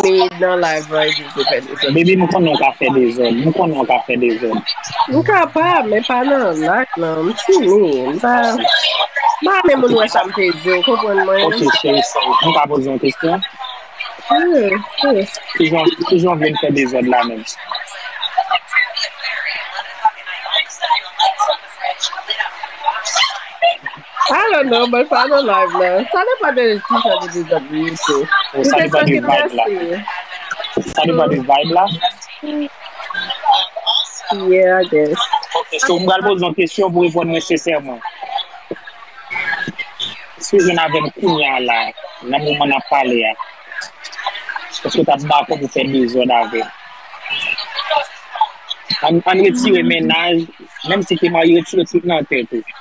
Mwen menm nan live lan epi m tou fè dezòd. Baby m konnen w ka fè dezòd. M konnen w ka fè dezòd. M kapab men pa nan lak lan. M timi. M pa renmen moun wè sa m te di w konprann mwen. Ok cheri sa. M ka poze yon kesyon? Wi. Kijan w vle m fè dezòd la menm? I don't know mwen pa nan live la. Sa depan de ki jan de dezòd li ye tou. Ou Sa te depan de vibe la. travèse. Sa depan de vibe la. Yeah, I guess. Ok, so m pral poze yon kesyon pou reponn mwen sensèman. Si w jwenn avè m kounya la, nan moman n ap pale a, èske w t ap dakò pou fè dezòd avè m? An n retire mennaj, menm si te marye, retire tout nan tèt ou.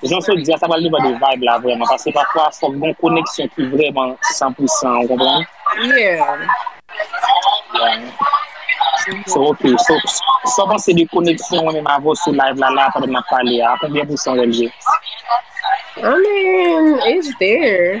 Jan w sot di a, sa pral depann de vibe la vrèman, paske pafwa fòk gen yon koneksyon ki vrèman san pou san, ou konprann? So ok, so sa w panse de koneksyon mwen menm avè w sou live la la a pandan n ap pale a, a konbyen pousan w wè l ye? I mean, it's there.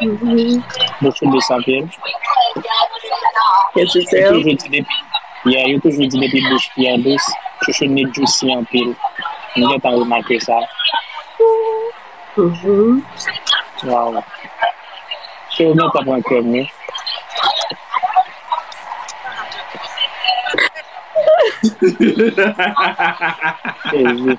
Mwen foube sa pye. Yo toujou di depi. Ya, yo toujou di depi bouch pi an dous, chouchou ni djousi an pil. Mwen gen tan remake sa. Waw. Se ou gen tan pran kèm ni. Jezi.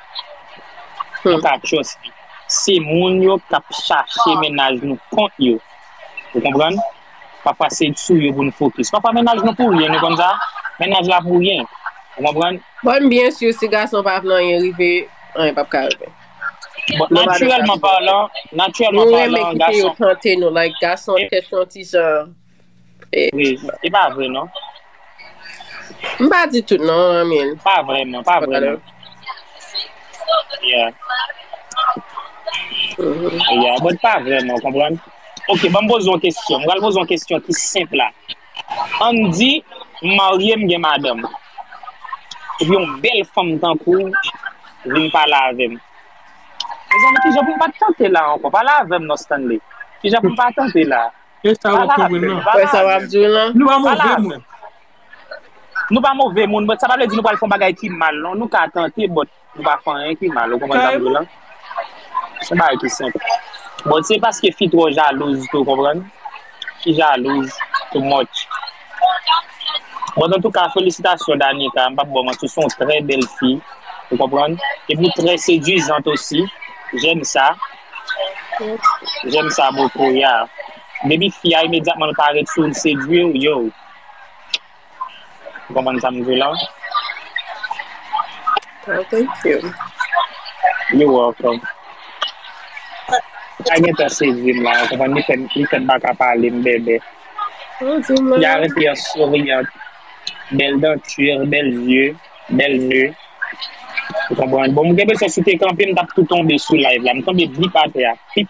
Tachos li se moun yo kap chache mennaj nou kont yo ou konprann pafwa se sou yo pou nou fokis pafwa mennaj nou pou ryen nou konn sa mennaj la pou ryen ou konprann. Bon byen sur si gason pa vle anyen rive anyen pap ka rive bon naturèlman palan naturèlman palan gason nou renmen kite yo tante nou like gason tèt yon ti jan. Vre, e pa vre non. M pa di tout non, I mean. Pa vre non, pa vre non. Yeah. Yeah, but pa vre non, konprann? Ok, banm poze yon kesyon. M pral poze yon kesyon ki senp la. Ann di, m marye, m gen madanm. Epi yon bèl fanm tankou w vin pale avè m. Mezanmi, kijan pou m pa tante la ankò? Pale avè m non, Stanley. Kijan pou m pa tante la a? Kè sa wap Barbara jwenn nan. Kè sa wap jwenn nan. Nou pa move moun. Nou pa move moun but sa pa vle di nou pral fon bagay ki mal non nou ka tante but nou pa fon anyen ki mal ou konprann sa m di la son bagay ki senp but se paske fi tro jalouz tou konprann fi jalouz too much. Bon antouka felisitasyon Danica, m pap baw manti ou se yon trè bèl fi, ou konprann, epi ou trè sedwizant osi, jèm sa, jèm sa bokou ya, depi fi a imedyatman l pa ret sou w l sedwi w yow, ou konprann sa m di w la. Aw thank you. You welcome. Sa gentan sedwi m la, ou konprann, li fèm baka pale m bèbè. Li arete an souriyan, bèl danti, bèl zye, bèl ne. Ou konprann? Bon, m gen presyon si te kanpe m t ap tou tonbe sou live la. M tonbe blip atè a. Pip.